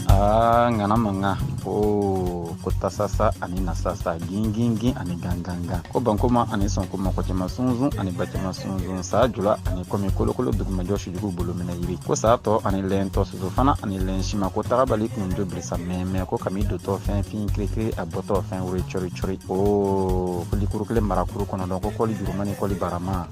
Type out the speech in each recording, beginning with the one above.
Aa ŋana mankan ko ko tasasa ani na sasa gingingin ani gangangan ko bankoma ani sɔnkuma ko caman sunsun ani ba caman sunsun sa jula ani kɔmi kolokolo dugumajɔ sujugu bolo minɛ yiri ko sa tɔ ani lɛn tɔ soso fana ani lɛn sima ko taabali kun jo bilisa mɛmɛ ko kami dotɔ fin fin kirikiri a bɔtɔ fɛn woro cɔri cɔri o kolikuru kelen marakuru kɔnɔ dɔn ko kɔli juruma ni kɔli barama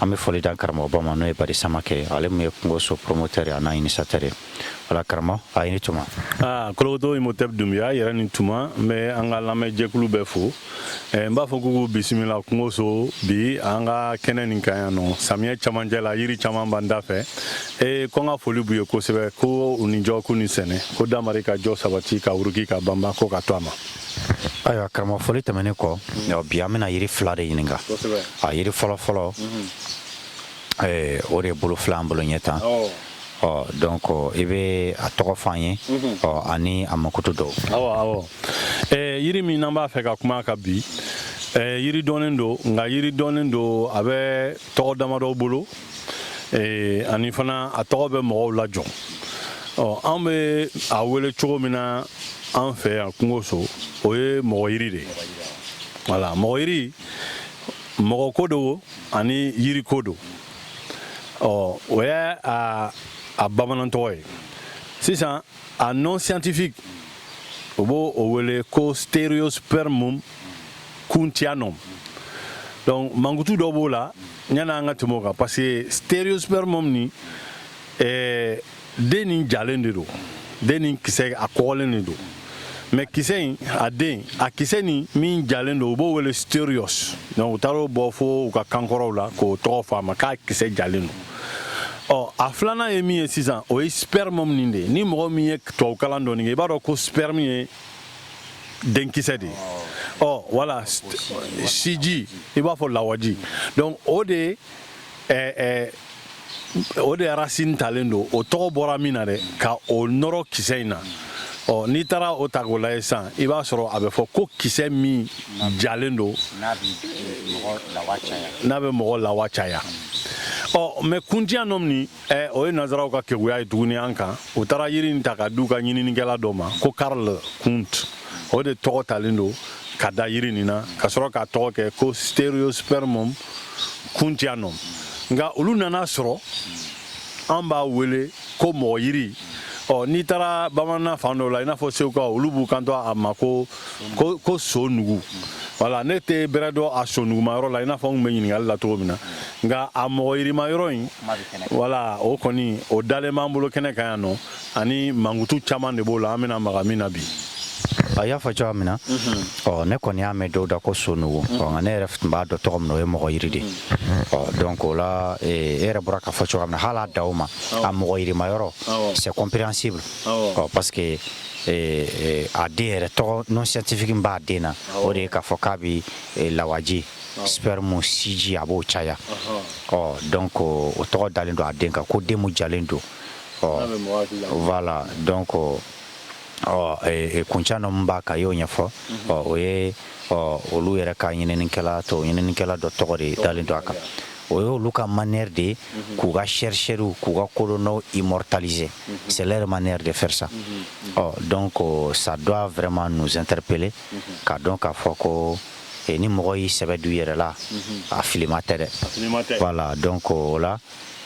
An bɛ foli da an karamɔgɔba ma n'o ye bari samake ale min ye kungoso promoteur a n'a initiateur wala karamɔgɔ aw ni tuma kolokoto i mo tɛ dun y'a yɛrɛ ni tuma n bɛ an ka lamɛnjɛkulu bɛɛ fo n b'a fɔ k'u k'u bisimila kungoso bi an ka kɛnɛ nin kan yan nɔ samiyɛ camancɛ la yiri caman b'an dafɛ ee ko n ka foli b'u ye kosɛbɛ ko u ni jɔ k'u ni sɛnɛ ko damari ka jɔ sabati ka uruki ka banban ko ka to a ma Ayiwa karamɔgɔ foli tɛmɛnen kɔ bi an bɛna yiri fila de ɲininka a yiri fɔlɔ fɔlɔ o de bolo filɛ an bolo ɲɛ tan ɔ donc i bɛ a tɔgɔ fɔ an ye ani a mankutu dɔw yiri min an b'a fɛ ka kuma a kan bi yiri dɔnnen don nka yiri dɔnnen don a bɛ tɔgɔ damadɔ bolo ee, ani fana a tɔgɔ bɛ mɔgɔw lajɔ ɔ an bɛ a wele cogo min na an fɛ yan kungoso o ye mɔgɔ yiri de ye wala mɔgɔ yiri mɔgɔ ko don ani yiri ko don ɔ o y'a a bamanantɔgɔ ye sisan a nom scientifique u b'o wele ko stereospermum kunthianum donc mankutu dɔ b'o la yanni an ka tɛmɛ o kan parce que stereospermum ni eh, den nin jalen de don den nin kisɛ a kɔgɔlen de don mais kisɛ in a den a kisɛ nin min jalen don u b'o wele stereos donc u taar'o bɔ fo u ka kankɔrɔw la k'o tɔgɔ fɔ a ma k'a kisɛ jalen don ɔ a filanan ye min ye sisan o ye spermum nin de ye ni mɔgɔ min ye tubabukalan dɔɔni kɛ i b'a dɔn ko sperme ye denkisɛ de ye ɔ wala siji i b'a fɔ lawaji donc o de ɛɛ ɛɛ o de racine talen don o tɔgɔ bɔra min na dɛ ka o nɔrɔ kisɛ in na ɔ n'i taara o ta k'o lajɛ sisan i b'a sɔrɔ a bɛ fɔ ko kisɛ min jalen don n'a bɛ mɔgɔ lawa caya ɔ mais kunthianum nin eh, o ye nazaraw ka keguya ye tuguni an kan u taara yiri in ta k'a d'u ka ɲininikɛla dɔ ma ko karl kunth o de tɔgɔ talen don k'a da yiri nin na ka sɔrɔ k'a tɔgɔ kɛ ko stereospermum kunthianum nka olu nana sɔrɔ an b'a wele ko mɔgɔ yiri ɔ n'i taara bamanan fan dɔw la i n'a fɔ segukaw olu b'u kanto a ma ko ko ko so nugu voilà ne tɛ bɛrɛ dɔn a so nuguma yɔrɔ la i n'a fɔ n bɛ ɲininkali la cogo min na nka a mɔgɔ yirima yɔrɔ in voilà o kɔni o dalen b'an bolo kɛnɛ kan yan nɔ ani mankutu caman de b'o la an bɛna maga min na bi a y'a fɔ cogoya min na ɔ ne kɔni y'a mɛn dɔw da ko so nugu ɔ nka ne yɛrɛ tun b'a dɔn tɔgɔ min na o ye mɔgɔ yiri de ɔ donc o la e yɛrɛ bɔra k'a fɔ cogoya min na hali a daw ma a mɔgɔ yirima yɔrɔ c'est compréhensible ɔ parce que a den yɛrɛ tɔgɔ nom scientifique min b'a den na o de ye k'a fɔ k'a bɛ lawaji sperme siji a b'o caya ɔ donc o tɔgɔ dalen don a den kan ko den min jalen don ɔ voilà donc ɔ kunthianum b'a kan y'o ɲɛfɔ ɔ o ye ɔ olu yɛrɛ ka ɲininikɛla to ɲininikɛla dɔ tɔgɔ de dalen don a kan o ye olu ka manière de ye k'u ka chercheurw k'u ka kodɔnnaw immortaliser c'est leur manière de faire ça ɔ donc ça doit vraiment nous interpeller k'a dɔn k'a fɔ ko ni mɔgɔ y'i sɛbɛ don yɛrɛ la a filima tɛ dɛ voilà donc o la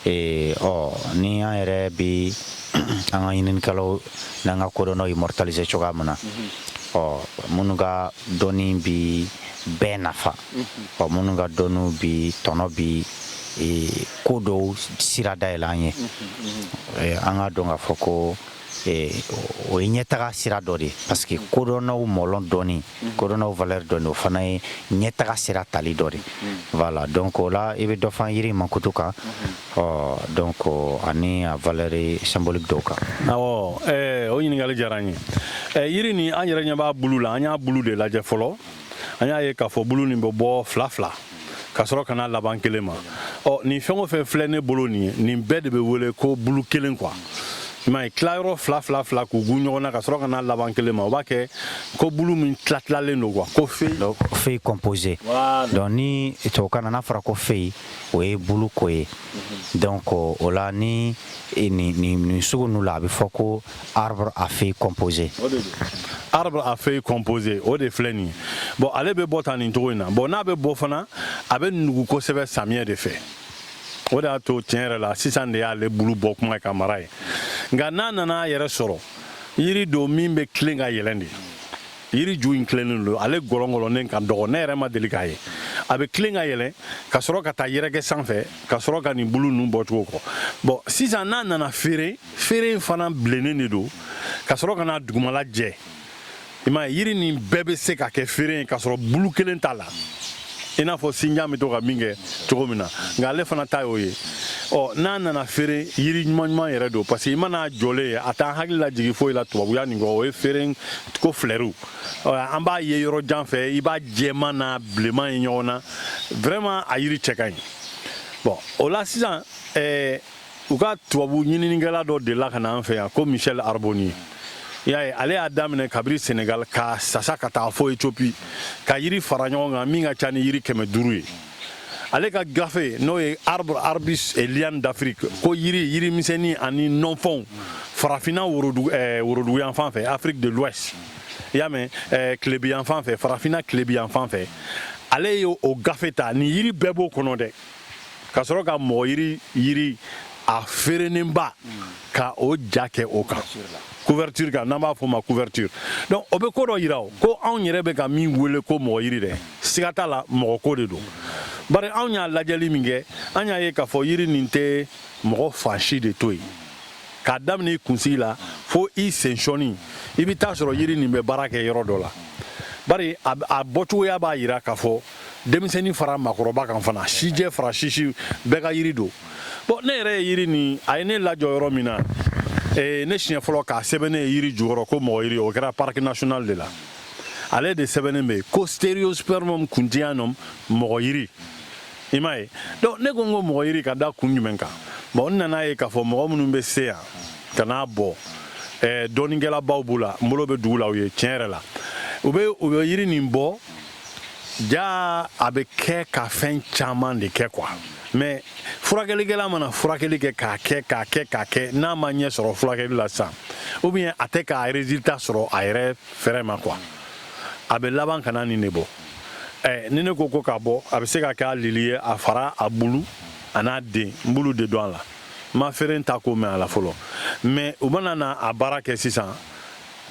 ɔ ni an yɛrɛ bɛ an ka ɲininikɛlaw n'an ka kodɔnnaw immortaliser cogoya min na ɔ minnu ka dɔnni bɛ bɛɛ nafa ɔ minnu ka dɔnniw bi tɔnɔ bi ko dɔw sira dayɛlɛ an ye an ka dɔn k'a fɔ ko o ye ɲɛtaga sira dɔ de ye parce que kodɔnnaw mɔlɔn dɔnni kodɔnnaw valeur dɔnni o fana ye ɲɛtaga sira tali dɔ de voilà donc o la i bɛ dɔ fɔ an yiri mankutu kan ɔ donc ani a valeur symbolique dɔw kan awɔ o ɲininkali diyara an ye yiri nin an yɛrɛ ɲɛ b'a bulu la an y'a bulu de lajɛ fɔlɔ an y'a ye k'a fɔ bulu nin bɛ bɔ fila fila ka sɔrɔ ka na laban kelen ma ɔ nin fɛn o fɛn filɛ ne bolo nin ye nin bɛɛ de bɛ wele ko bulu kelen quoi i m'a ye tilayɔrɔ fila fila fila k'u tugun ɲɔgɔn na ka sɔrɔ ka na laban kelen ma o b'a kɛ ko bulu min tilatilalen don quoi ko feuille feuille composée donc ni tubabukan na n'a fɔra ko feuille o ye bulu ko ye donc o la ni nin sugu ninnu la a bɛ fɔ ko arbre à feuilles composées. arbre à feuilles composées o de filɛ nin ye bon ale bɛ bɔ tan nin cogo in na bon n'a bɛ bɔ fana a bɛ nugu kosɛbɛ samiyɛ de fɛ o de y'a to tiɲɛ yɛrɛ la sisan de y'ale bulu bɔ kuma ye ka mara ye nka n'a nana a yɛrɛ sɔrɔ yiri don min bɛ tilen ka yɛlɛn de yiri ju in tilennen don ale gɔlɔngɔlɔnnen ka dɔgɔ ne yɛrɛ ma deli k'a ye a bɛ tilen ka yɛlɛn ka sɔrɔ ka taa yɛrɛkɛ sanfɛ ka sɔrɔ ka nin bulu ninnu bɔcogo kɔ bon sisan n'a nana feere feere in fana bilennen de don ka sɔrɔ ka na dugumala jɛ i m'a ye yiri nin bɛɛ bɛ se ka kɛ feere ye k'a sɔrɔ bulu kelen t'a la i n'a fɔ sinjan bɛ to ka min kɛ cogo min na nka ale fana ta y'o ye ɔ n'a nana feere yiri ɲuman ɲuman yɛrɛ don parce que i man'a jɔlen ye a t'an hakili lajigin foyi la tubabuya nin kɔ o ye feere ko filɛriw an b'a ye yɔrɔ jan fɛ i b'a jɛman na bilenman ye ɲɔgɔn na vraiment a yiri cɛ ka ɲi bon o la sisan ɛɛ u ka tubabu ɲininikɛla dɔ delila ka na an fɛ yan ko michel arbonnier y'a ye ale y'a daminɛ kabiri senegal ka sasa ka taa fɔ ethiopie ka yiri fara ɲɔgɔn kan min ka ca ni yiri kɛmɛ duuru ye ale ka gafe n'o ye arbres arbustes et lianes d'afrique ko yiri yiri misɛnni ani nɔnfɔnw farafinna worodugu eh, worodugu yan fan fɛ afrique de l'ouest i y'a mɛn eh, tilebi yan fan fɛ farafinna tilebi yan fan fɛ ale ye o gafe ta nin yiri bɛɛ b'o kɔnɔ dɛ ka sɔrɔ ka mɔgɔ yiri yiri a feerenenba ka o ja kɛ o kan couverture kan n'an b'a fɔ o ma couverture donc o bɛ ko dɔ yira o ko anw yɛrɛ bɛ ka min wele ko mɔgɔ yiri dɛ siga t'a la mɔgɔ ko de don bari anw y'a lajɛli min kɛ an y'a ye k'a fɔ yiri nin tɛ mɔgɔ fan si de to yen k'a daminɛ i kunsigi la fo i sensɔnin i bɛ taa sɔrɔ yiri nin bɛ baara kɛ yɔrɔ dɔ la bari a bɔcogoya b'a yira k'a fɔ denmisɛnnin fara maakɔrɔba kan fana sijɛ fara sisi bɛɛ ka yiri don bon ne yɛrɛ ye yiri nin a ye ne lajɔ yɔrɔ min na eh, ne siɲɛ fɔlɔ k'a sɛbɛnnen ye yiri jukɔrɔ ko mɔgɔ yiri o kɛra parc national de la ale de sɛbɛnnen bɛ ko stereospermum kunthianum mɔgɔ yiri i m'a ye donc ne ko n ko mɔgɔ yiri ka da kun jumɛn kan bon n nan'a ye k'a fɔ mɔgɔ minnu bɛ se yan ka n'a bɔ eh, dɔnnikɛlabaw b'u la n bolo bɛ dugu la u ye tiɲɛ yɛrɛ la u bɛ u bɛ yiri nin bɔ jaa a bɛ kɛ ka fɛn caman de kɛ quoi mais furakɛlikɛla mana furakɛli kɛ k'a kɛ k'a kɛ k'a kɛ n'a ma ɲɛ sɔrɔ furakɛli la sisan ou bien a tɛ k'a résultat sɔrɔ a yɛrɛ fɛrɛ ma quoi a bɛ laban ka na nin de bɔ ɛ ni ne ko ko k'a bɔ a bɛ se ka kɛ a lili ye a fara a bulu an'a den n b'olu de dɔn a la n ma feere ta ko mɛn a la fɔlɔ mais u mana na a baara kɛ sisan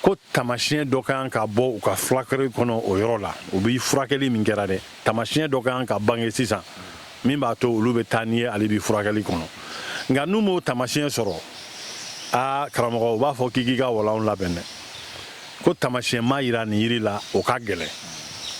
ko tamasiɲɛ dɔ ka kan ka bɔ u ka furakɛli kɔnɔ o yɔrɔ la u bɛ furakɛli min kɛra dɛ tamasiɲɛ dɔ ka kan ka bange sisan min b'a to olu bɛ taa n'i ye ale bi furakɛli kɔnɔ nka n'u m'o tamasiɲɛ sɔrɔ aa karamɔgɔ u b'a fɔ k'i k'i ka walanw labɛn dɛ ko tamasiɲɛ ma yira nin yiri la o ka gɛlɛn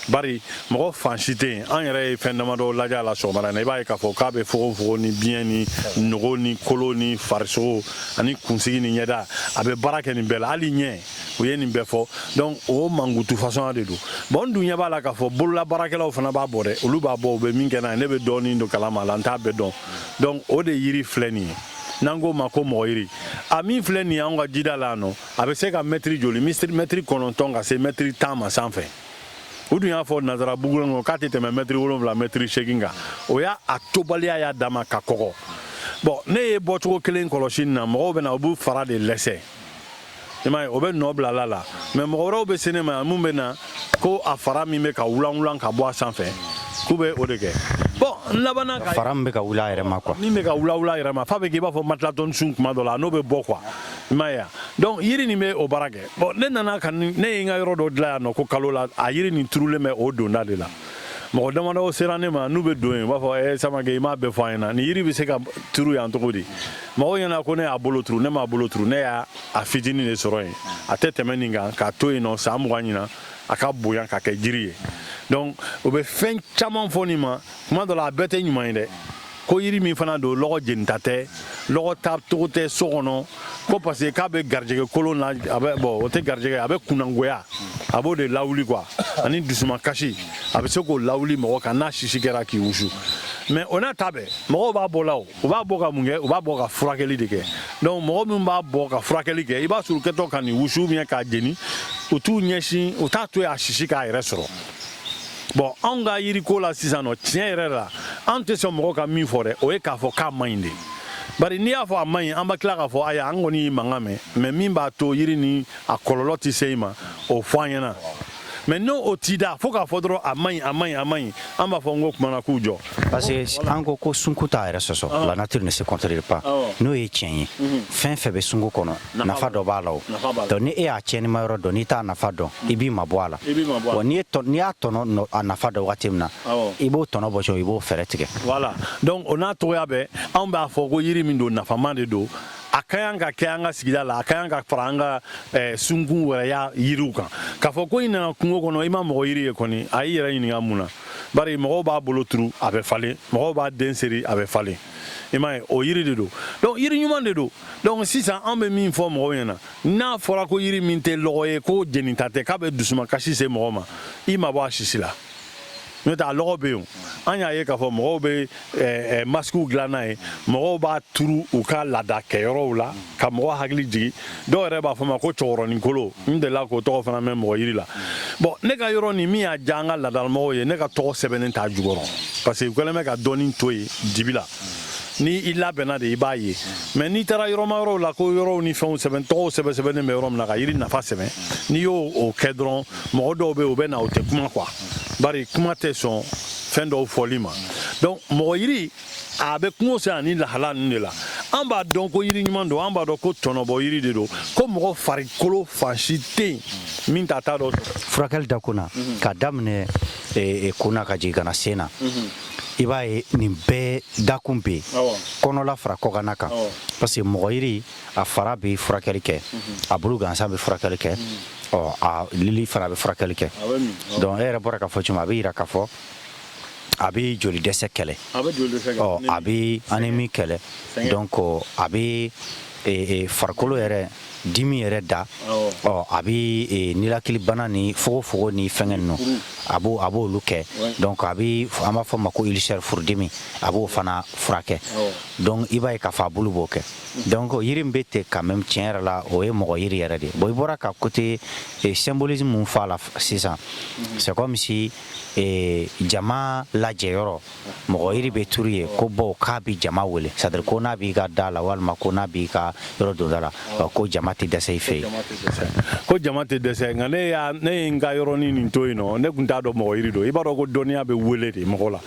Bari mɔgɔ fan si tɛ yen an yɛrɛ ye fɛn damadɔ lajɛ a la sɔgɔmada in na i b'a ye k'a fɔ k'a bɛ fogonfogon ni biɲɛ ni nogo ni kolo ni farisogo ani kunsigi ni ɲɛda a bɛ baara kɛ nin bɛɛ la hali ɲɛ u ye nin bɛɛ fɔ donc o mankutu fasɔn de don bon n dun ɲɛ b'a la k'a fɔ bololabaarakɛlaw fana b'a bɔ dɛ olu b'a bɔ u bɛ min kɛ n'a ye ne bɛ dɔɔnin dɔ kalama a la n t'a bɛɛ dɔn donc o de yiri filɛ nin ye n'an k'o ma ko mɔgɔ yiri a min filɛ nin ye an ka jida la yan nɔ a bɛ se ka mɛtiri joli mɛtiri kɔnɔntɔn ka se mɛtiri tan ma sanfɛ u dun y'a fɔ nazara buku kɔnɔ k'a tɛ tɛmɛ mɛtiri wolonwula mɛtiri seegin kan o y'a tobaliya y'a dama ka kɔgɔ bon ne ye bɔcogo kelen kɔlɔsi nin na mɔgɔw bɛ na u b'u fara de lɛsɛ i m'a ye o bɛ nɔ bila a la mais mɔgɔ wɛrɛw bɛ se ne ma yan mun bɛ na ko a fara min bɛ ka wulanwulan ka bɔ a sanfɛ k'u bɛ o de kɛ bon n labanna fara min bɛ ka wuli a yɛrɛ ma quoi min bɛ ka wulawula a yɛrɛ ma f'a bɛ k'i b'a fɔ matilatɔnni sun tuma dɔ la n'o bɛ bɔ quoi i m'a ye wa donc yiri nin bɛ o baara kɛ bon ne nana ka ne ye n ka yɔrɔ dɔ dilan yan nɔ ko kalo la a yiri nin turulen bɛ o donda de la mɔgɔ damadɔ sera ne ma n'u bɛ don yen u b'a fɔ eh, Samakɛ i m'a bɛɛ fɔ an ɲɛna nin yiri bɛ se ka turu yan cogo di mɔgɔw ɲɛna ko ne y'a bolo turu ne m'a bolo turu ne y'a a fitinin de sɔrɔ yen a tɛ tɛmɛ nin kan k'a to yen nɔ san mugan ɲinan a ka bonya ka kɛ jiri ye donc u bɛ fɛn caman fɔ nin ma tuma dɔ la a bɛɛ tɛ ɲuman ye dɛ ko yiri min fana don lɔgɔ jenita tɛ lɔgɔ ta togo tɛ so kɔnɔ ko parce que k'a bɛ garijɛgɛ kolon na a bɛ bon o tɛ garijɛgɛ a bɛ kunnangoya a b'o de lawuli quoi ani dusuma kasi a bɛ se k'o lawuli mɔgɔ kan n'a sisi kɛra k'i wusu mais o n'a ta bɛɛ mɔgɔw b'a bɔ la o u b'a bɔ ka mun kɛ u b'a bɔ ka furakɛli de kɛ donc mɔgɔ minw b'a bɔ ka furakɛli kɛ i b'a sɔrɔ u kɛtɔ ka nin wusu ou bien k'a jeni u t'u ɲɛsin u t'a to yen a sisi k'a yɛrɛ sɔrɔ bon anw ka yiriko la sisan nɔ tiɲɛ yɛrɛ la an tɛ sɔn mɔgɔ ka min fɔ dɛ o ye k'a fɔ k'a man ɲi de bari n'i y'a fɔ a man ɲi an bɛ tila k'a fɔ aya an kɔni y'i mankan mɛn mais min b'a to yiri nin a kɔlɔlɔ tɛ se i ma o fɔ an ɲɛna mais n'o o t'i da fo k'a fɔ dɔrɔn a man ɲi a man ɲi a man ɲi an b'a fɔ n ko kumana k'u jɔ parce que an ko ko sunkun t'a yɛrɛ sɔsɔ la nature ne se contredit pas n'o ye tiɲɛ ye fɛn fɛn bɛ sunkun kɔnɔ nafa dɔ b'a la o donc ni e y'a tiɲɛnima yɔrɔ dɔn n'i t'a nafa dɔn i b'i mabɔ a la n'i y'a tɔnɔ a nafa dɔn waati min na i b'o tɔnɔ bɔ i b'o fɛɛrɛ tigɛ voilà donc o n'a cogoya bɛɛ anw b'a fɔ ko yiri min don nafama de don a ka yan ka kɛ an ka sigida la a ka yan ka fara an ka eh, sunkun wɛrɛya yiriw kan k'a fɔ ko i nana kungo kɔnɔ i ma mɔgɔ yiri ye kɔni a y'i yɛrɛ ɲininka mun na bari mɔgɔw b'a bolo turu a bɛ falen mɔgɔw b'a den seri a bɛ falen i m'a ye o yiri de don donc yiri ɲuman de don donc sisan an bɛ min fɔ mɔgɔw ɲɛna n'a fɔra ko yiri min tɛ lɔgɔ ye ko jeninta tɛ k'a bɛ dusuma kasi se mɔgɔ ma i ma bɔ a sisi la n'o tɛ a lɔgɔ bɛ yen an y'a ye k'a fɔ mɔgɔw bɛ eh, eh, masikiw dilan n'a ye mɔgɔw b'a turu u ka laada kɛyɔrɔw la ka mɔgɔ hakili jigin dɔw yɛrɛ b'a fɔ ma ko cɛkɔrɔnin kolo n delila k'o tɔgɔ fana mɛn mɔgɔ yiri la bon ne ka yɔrɔ nin min y'a diya an ka laadalamɔgɔw ye ne ka tɔgɔ sɛbɛnnen t'a jukɔrɔ parce que u kɛlen bɛ ka dɔɔnin to yen dibi la ni i labɛnna de i b'a ye mais n'i taara yɔrɔma yɔrɔw la ko yɔrɔw ni fɛnw sɛbɛn tɔgɔw sɛbɛn sɛbɛnnen bɛ yɔrɔ min na ka yiri nafa sɛbɛn n'i y'o kɛ dɔrɔn mɔgɔ dɔw bɛ yen u bɛ na u tɛ kuma quoi bari kuma tɛ sɔn fɛn dɔw fɔli ma donc mɔgɔ yiri a bɛ kungo se ani lahala ninnu de la an b'a dɔn ko yiri ɲuman don an b'a dɔn ko tɔnɔbɔ yiri de don ko mɔgɔ farikolo fan si tɛ yen min t'a ta dɔ sɔrɔ furakɛli dakun na mhm. k'a daminɛ eh, eh, kun na ka jigin ka na sen na mhm. i b'a ye nin bɛɛ dakun bɛ yen kɔnɔla fara kɔkanna kan parce que mɔgɔ yiri a fara bɛ furakɛli kɛ a bulu gansan bɛ furakɛli kɛ ɔ a lili fana bɛ furakɛli kɛ donc e yɛrɛ bɔra k'a fɔ cogo min a bɛ yira k'a fɔ a bɛ joli dɛsɛ kɛlɛ ɔ a bɛ anémie kɛlɛ donc a bɛ farikolo yɛrɛ dimi yɛrɛ da ɔ a bɛ e, nilakilibana ni fogofogo ni fɛngɛ ninnu a b'o a b'olu kɛ donc a bɛ an b'a fɔ ma ko ulcère furudimi a b'o fana furakɛ donc i b'a ye k'a fɔ a bulu b'o kɛ donc yiri min bɛ ten quand même tiɲɛ yɛrɛ la o ye mɔgɔ yiri yɛrɛ de bon i bɔra ka côté e, symbolisme mun fɔ a la sisan c'est comme si e, jama lajɛyɔrɔ mɔgɔ yiri bɛ turu yen ko bon k'a bɛ jama wele c'est-à-dire ko n'a b'i ka da la walima ko n'a b'i ka yɔrɔ donda la ko jama tɛ dɛsɛ i fɛ yen ko jama tɛ dɛsɛ nka ne y'a ne ye n ka yɔrɔnin nin to yen nɔ ne tun t'a dɔn mɔgɔ yiri don i b'a dɔn ko dɔnniya bɛ wele de mɔgɔ la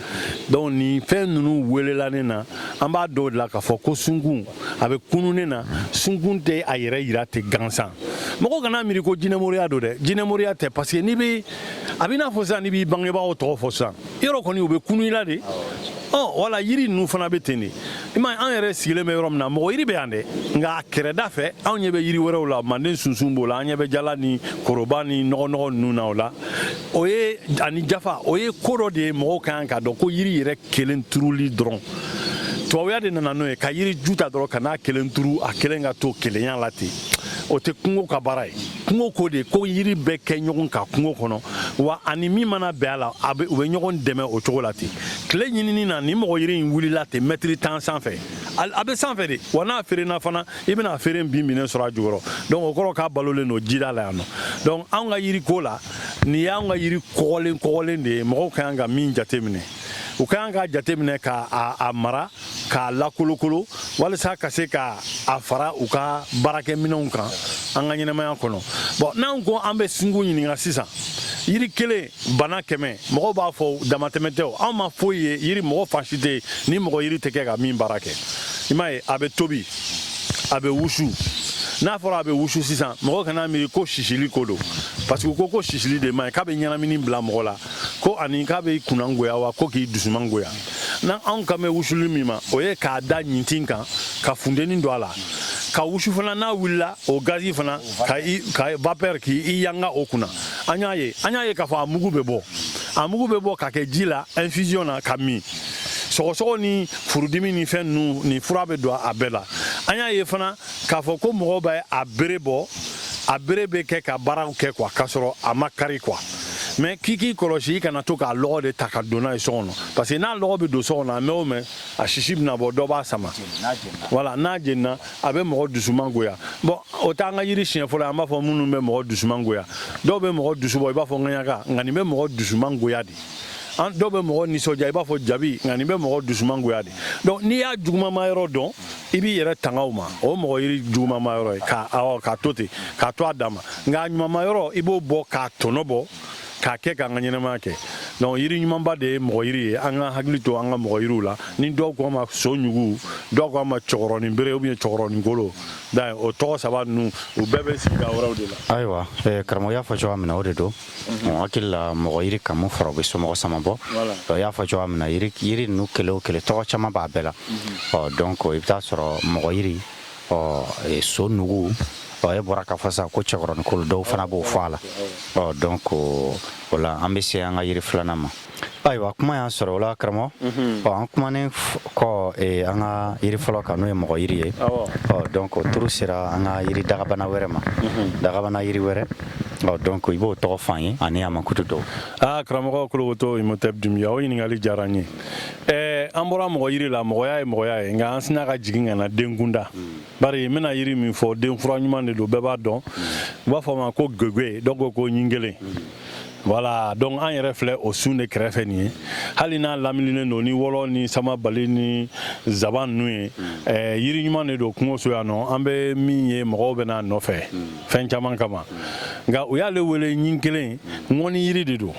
donc nin fɛn ninnu welela ne na an b'a dɔw de la k'a fɔ ko sunkun a bɛ kunun ne na sunkun tɛ a yɛrɛ yira ten gansan mɔgɔ kana miiri ko jinɛmoriya don dɛ jinɛmoriya tɛ parce que n'i bɛ a bɛ n'a fɔ sisan n'i b'i bangebaaw tɔgɔ fɔ sisan yɔrɔ kɔni u bɛ kunun i la de ɔ wala yiri ninnu fana bɛ ten de i ma an yɛrɛ sigilen bɛ yɔrɔ min na mɔgɔ yiri bɛ yan dɛ nka a kɛrɛda fɛ anw ɲɛ bɛ yiri wɛrɛw la manden sunsun b'o la an ɲɛ bɛ jala ni koroba ni nɔgɔnɔgɔ ninnu na o la o ye ani jafa o ye ko dɔ de ye mɔgɔw ka kan k'a dɔn ko yiri yɛrɛ kelen turuli dɔrɔn tubabuya de nana n'o ye ka yiri ju ta dɔrɔn ka n'a kelen turu a kelen ka to kelenya la ten o tɛ kungo ka baara ye kungo ko de ko yiri bɛɛ kɛ ɲɔgɔn kan kungo kɔnɔ wa ani min mana bɛn a la a bɛ u bɛ ɲɔgɔn dɛmɛ o cogo la ten tile ɲinini na ni mɔgɔ yiri in wulila ten mɛtiri tan sanfɛ a bɛ sanfɛ de wa n'a feerenna fana i bɛna a feere binbinnen sɔrɔ a jukɔrɔ donc o kɔrɔ k'a balolen don jida la yan nɔ donc anw ka yiri ko la nin y'anw ka yiri kɔgɔlen kɔgɔlen de ye mɔgɔw ka kan ka min jateminɛ u ka kan k'a jateminɛ ka a mara k'a lakolokolo walisa ka se ka a fara u ka baarakɛminɛnw kan an ka ɲɛnamaya kɔnɔ bon n'an ko an bɛ sinko ɲininka sisan yiri kelen bana kɛmɛ mɔgɔw b'a fɔ damatɛmɛ tɛ anw ma foyi ye yiri mɔgɔ fan si tɛ yen ni mɔgɔ yiri tɛ kɛ ka min baara kɛ i m'a ye a bɛ tobi a bɛ wusu n'a fɔra a bɛ wusu sisan mɔgɔ kana miiri ko sisili ko don parce que ko ko sisili de man ɲi k'a bɛ ɲɛnamini bila mɔgɔ la ko ani k'a bɛ kunna goya wa ko k'i dusuman goya na anw kan bɛ wusuli min ma o ye k'a da ɲintin kan ka funteni don a la k'a wusu fana n'a wulila o gazi fana ka ka vapeur k'i yanga o kunna an y'a ye an y'a ye k'a fɔ a mugu bɛ bɔ a mugu bɛ bɔ k'a kɛ ji la infusion na k'a min sɔgɔsɔgɔ ni furudimi ni fɛn ninnu ni fura bɛ don a bɛɛ la an y'a ye fana k'a fɔ ko mɔgɔw bɛ a bere bɔ a bere bɛ kɛ ka baaraw kɛ quoi k'a sɔrɔ a ma kari quoi mais k'i k'i kɔlɔsi i kana to k'a lɔgɔ de ta ka don n'a ye so kɔnɔ parce que n'a lɔgɔ bɛ don so kɔnɔ a mɛn o mɛn a sisi bɛna bɔ dɔ b'a sama voilà n'a jenina a bɛ mɔgɔ dusuman goya bon o t'an ka yiri siɲɛ fɔlɔ an b'a fɔ minnu bɛ mɔgɔ dusuman goya dɔw bɛ mɔgɔ dusu bɔ i b'a fɔ ŋaɲaka nka nin bɛ mɔgɔ dusuman goya de an dɔw bɛ mɔgɔ nisɔndiya i b'a fɔ jabi nka nin bɛ mɔgɔ dusuman goya de donc n'i y'a jugumama yɔrɔ dɔn i b'i yɛrɛ tanga o ma o mɔgɔ yiri jugumama yɔrɔ ye k'a to ten k'a to a dama nka a ɲumama yɔrɔ i b'o bɔ k'a tɔnɔ bɔ k'a kɛ k'an ka ɲɛnamaya kɛ donc yiri ɲumanba de ye mɔgɔ yiri ye an ka hakili to an ka mɔgɔ yiriw la ni dɔw ko a ma so ɲugu dɔw ko a ma cɛkɔrɔnin bere ou bien cɛkɔrɔnin kolo o tɔgɔ saba ninnu u bɛɛ bɛ sigida wɛrɛw de la ayiwa eh, karamɔgɔ y'a fɔ cogoya min na o de don mɔgɔ hakili la mɔgɔ yiri kan min fɔra o bɛ somɔgɔ sama bɔ i y'a fɔ cogoya min na yiri ninnu kelen o kelen tɔgɔ caman b'a bɛɛ la ɔ donc i bɛ t'a sɔrɔ mɔgɔ yiri ɔ so nugu ɔ e bɔra k'a fɔ sa ko cɛkɔrɔnin kolo dɔw fana b'o fɔ a la ɔ donc o la an bɛ se an ka yiri filanan ma ayiwa kuma y'an sɔrɔ o la karamɔgɔ mhm. ɔ an kumanen kɔ eh, an ka yiri fɔlɔ kan n'o ye mɔgɔ yiri ye ɔ donc o turu sera an ka yiri dagabana wɛrɛ ma mhm. dagabana yiri wɛrɛ ɔ donc i b'o tɔgɔ f'an ye ani a mankutu dɔw aa karamɔgɔ kologoto imhotep dunbiya o ɲininkali diyara n ye eh, an bɔra mɔgɔ yiri la mɔgɔya ye mɔgɔya ye nka an sina ka jigin ka na denkunda hmm. bari n bɛna yiri min fɔ den fura ɲuman de don bɛɛ b'a dɔn u b'a fɔ a ma ko gege dɔw ko ko ɲin kelen voilà donc an yɛrɛ filɛ o sun de kɛrɛfɛ nin ye hali n'a laminilen don ni wɔlɔ ni samabali ni zaban ninnu ye eh, yiri ɲuman de don kungoso yan nɔ an bɛ min ye mɔgɔw bɛ n'a nɔfɛ fɛn caman kama nka u y'ale wele ɲin kelen ŋɔni yiri de don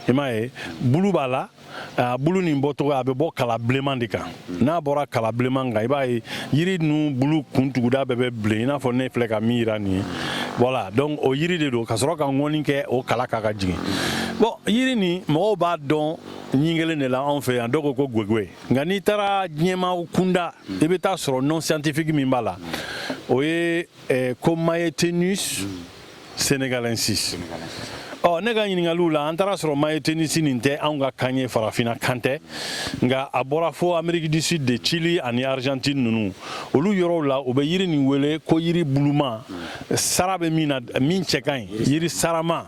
i m'a ye bulu b'a la a bulu nin bɔcogo a bɛ bɔ kala bilenman de kan n'a bɔra kala bilenman kan i b'a ye yiri ninnu bulu kun tuguda bɛɛ bɛ bilen i n'a fɔ ne filɛ ka min yira nin ye voilà donc o yiri de don ka sɔrɔ ka ŋɔni kɛ o kala kan ka jigin bon yiri nin mɔgɔw b'a dɔn ɲin kelen de la anw fɛ yan dɔw ko ko gwegwe nka n'i taara diɲɛma kunda i bɛ taa sɔrɔ nom scientifique min b'a la o ye eh, ko mayetenus senegalensis ɔ ne ka ɲininkaliw la an taara sɔrɔ mayetenisi nin tɛ anw ka kan ye farafina kan tɛ nka a bɔra fo amerique du sud de chili ani argentine ninnu olu yɔrɔw la u bɛ yiri nin wele ko yiri buluma sara bɛ min na min cɛ ka ɲi yiri sarama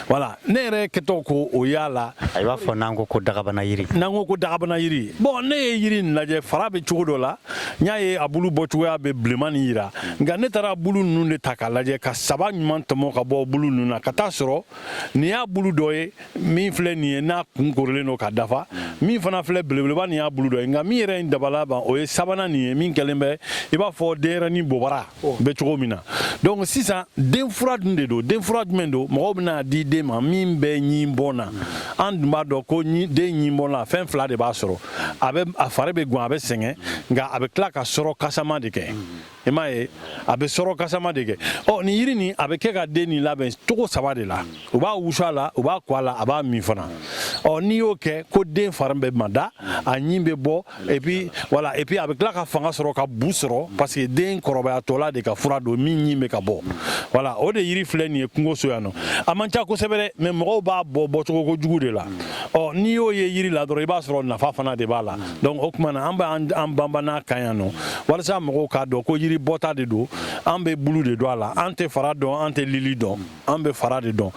voilà ne yɛrɛ kɛtɔ ko o y'a la i b'a fɔ n'an ko ko dagabana yiri n'an ko ko dagabana yiri bon ne ye yiri nin lajɛ fara bɛ cogo dɔ la n y'a ye a bulu bɔcogoya bɛ bilenman nin yira nka ne taara bulu ninnu de ta k'a lajɛ ka saba ɲuman tɔmɔ ka bɔ bulu ninnu na ka taa sɔrɔ nin y'a bulu dɔ ye min filɛ nin ye n'a kun korilen don ka dafa min fana filɛ belebeleba nin y'a bulu dɔ ye nka min yɛrɛ ye n dabala ban o ye sabanan nin ye min kɛlen bɛ i b'a fɔ denyɛrɛnin bobara oh. bɛ cogo min na donc sisan den fura dun de don den fura jumɛn don mɔgɔw bɛn'a di den ma min bɛ ɲin bɔ na an dun b'a dɔn ko den ɲin bɔ na fɛn fila de b'a sɔrɔ a bɛ a fari bɛ gwan a bɛ sɛgɛn nka a bɛ tila ka sɔrɔ ka sama de kɛ i m'a ye a bɛ sɔrɔ ka sama de kɛ ɔ nin yiri nin a bɛ kɛ ka den nin labɛn cogo saba de la. Mm. u b'a wusu a la u b'a ko a la a b'a min fana ɔ n'i y'o kɛ ko den fari bɛ mada a ɲin bɛ bɔ et puis voilà et puis a bɛ tila ka fanga sɔrɔ ka bu sɔrɔ parce que den kɔrɔbayatɔla de ka fura don min ɲin bɛ ka bɔ voilà o de yiri filɛ nin ye kungoso yan nɔ a man ca kosɛbɛ dɛ mais mɔgɔw b'a bɔ bɔcogo kojugu de la ɔ n'i y'o ye yiri la dɔrɔn i b'a sɔrɔ nafa fana de b'a la donc o tuma na an bɛ an banban a kan yan nɔ walasa mɔgɔw k'a dɔn ko yiri bɔta de don an bɛ bulu de dɔn a la an tɛ fara dɔn an tɛ lili dɔn an bɛ fara de dɔn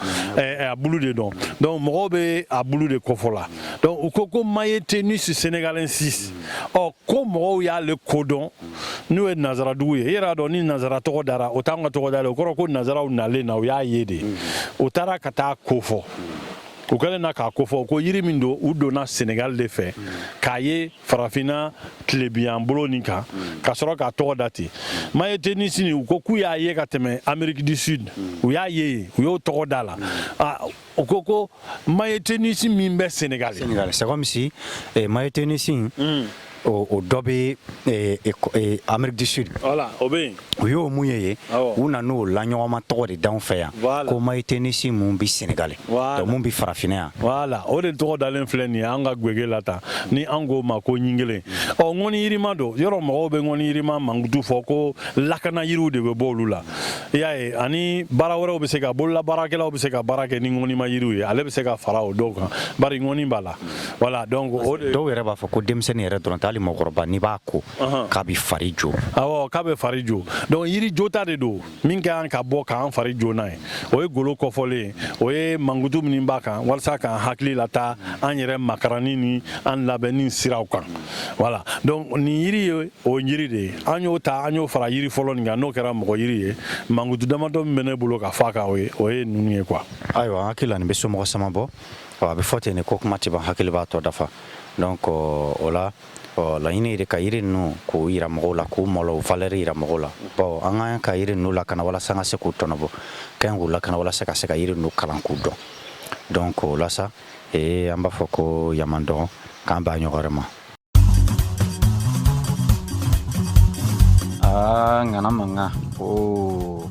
a bulu de dɔn donc mɔgɔw bɛ a bulu de kofɔ la donc u ko ko mayetenisi senegalensis ɔ ko mɔgɔw y'ale kodɔn n'o ye nazaradugu ye i yɛrɛ y'a dɔn ni nazara tɔgɔ dara o t'an ka tɔgɔ dalen o kɔrɔ ko nazaraw nalen na u y'a ye de u taara ka taa kofɔ u kɛlen na k'a kofɔ ko yiri min don u donna senegal de fɛ k'a ye farafinna tilebiyan bolo nin kan hmm. ka sɔrɔ k'a tɔgɔ da ten mayetenisi nin u ko k'u y'a ye ka tɛmɛ amerique du sud hmm. u y'a ye u y'o tɔgɔ da la hmm. u ko ko mayetenisi min bɛ senegal senegal c'est comme si eh, mayetenisi o dɔ bɛ eh, eh, amerique du sud voilà o bɛ yen u y'o mun ye ye u nan'o laɲɔgɔnma tɔgɔ de d'anw fɛ yan ko mayitenisi mun bɛ senegali donc mun bɛ farafinna yan voilà o de tɔgɔ dalen filɛ nin ye an ka gwege la tan ni an k'o ma ko ɲingelen ɔ ŋɔni yirima don yɔrɔ mɔgɔw bɛ ŋɔni yirima mankutu fɔ ko lakana yiriw de bɛ bɔ olu la i y'a ye ani baara wɛrɛw bɛ se ka bolola baarakɛlaw bɛ se ka baara kɛ ni ŋɔnima yiriw ye ale bɛ se ka fara o dɔw kan bari ŋɔni b'a la voilà dɔw yɛrɛ b'a fɔ ko denmisɛnnin yɛrɛ dɔrɔn tɛ hali mɔgɔkɔrɔba n'i b'a ko k'a bɛ fari jo k'a bɛ fari jo donc yiri jota de don min ka kan ka bɔ k'an fari jo n'a ye o ye golo kɔfɔlen ye o ye mankutu min b'a kan walasa k'an hakili lataa an yɛrɛ makaranni ni an labɛnni siraw kan voilà donc nin yiri ye o yiri de ye an y'o ta an y'o fara yiri fɔlɔ nin kan n'o kɛra mɔgɔ yiri ye mankutu damadɔ min bɛ ne bolo ka f'a kan o ye ninnu ye quoi ayiwa n hakili la nin bɛ somɔgɔ sama bɔ a bɛ fɔ ten de ko kuma tɛ ban hakili b'a tɔ dafa o la Ɔ laɲini ye de ka yiri ninnu k'u yira mɔgɔw la k'u mɔlɔ u valeur yira mɔgɔw la bon an ka kan ka yiri ninnu lakana walasa an ka se k'u tɔnɔbɔ ka ɲi k'u lakana walasa ka se ka yiri ninnu kalan k'u dɔn donc o la sa ee an b'a fɔ k'o y'a man dɔgɔ k'an b'a ɲɔgɔn wɛrɛ ma aa ŋana mankan oo